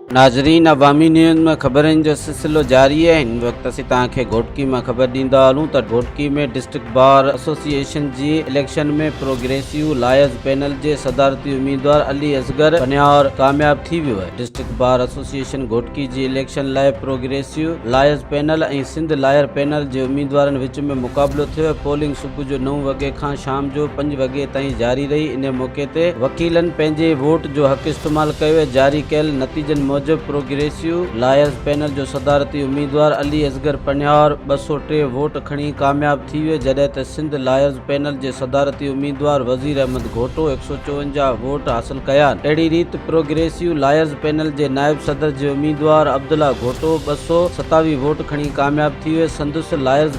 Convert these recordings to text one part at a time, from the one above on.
ناظرين عوامي نيوز ۾ خبرن جو سلسلو جاري آهي هن وقت اسين توهان کي گهوٽڪي مان خبر ڏيندا هلون ته گهوٽڪي ۾ ڊسٽرڪٽ بار ايسوسيئيشن جي اليڪشن ۾ پروگريسيو لائرز پينل جي صدارتي اميدوار علي اصغر پنهور ڪامياب ٿي ويو آهي ڊسٽرڪٽ بار ايسوسيئيشن گهوٽڪي جي اليڪشن لاء progressive lawyers panel ۽ Sindh lawyer panel جي اميدوارن وچ ۾ مقابلو ٿيو آهي پولنگ صبح جو نو وڳي کان شام جو پنج وڳي تائين جاري رهي، انهيء موقعي تي وڪيلن پنهنجي ووٽ جو حق استعمال ڪيو ۽ جاري ڪيل نتيجن موجب پروگريسو لائرز پينل جو صدارتي اميدوار علي اصغر پنهور ٻه سؤ ٽي ووٽ کڻي ڪامياب ٿي ويو جڏهن ته سنڌ لائرز پينل جي صدارتي اميدوار وزير احمد گهوٽو هڪ سؤ چوونجاهه ووٽ حاصل ڪيا اهڙي ريت پروگريسو لائرز پينل جي نائب صدر جي اميدوار عبدالله گهوٽو ٻه سؤ ستاويهه ووٽ کڻي ڪامياب ٿي ويو سندس لائرز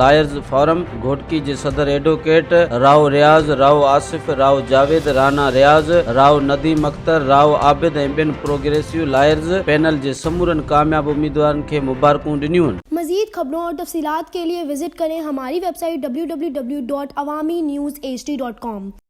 لائرز فورم گهوٽڪي جي صدر ايڊووڪيٽ رائو رياض، رائو آصف، رائو جاويد، رانا رياض، رائو نديم اختر، رائو عابد ۽ ٻين پروگريسو لائرز پينل جي سمورن ڪامياب اميدوارن کي مبارڪون ڏنيون. مزيد خبرون اور تفصيلات کے ليے وزٽ ڪرين ھماري ويب سائيٽ www.awaminews hd.com.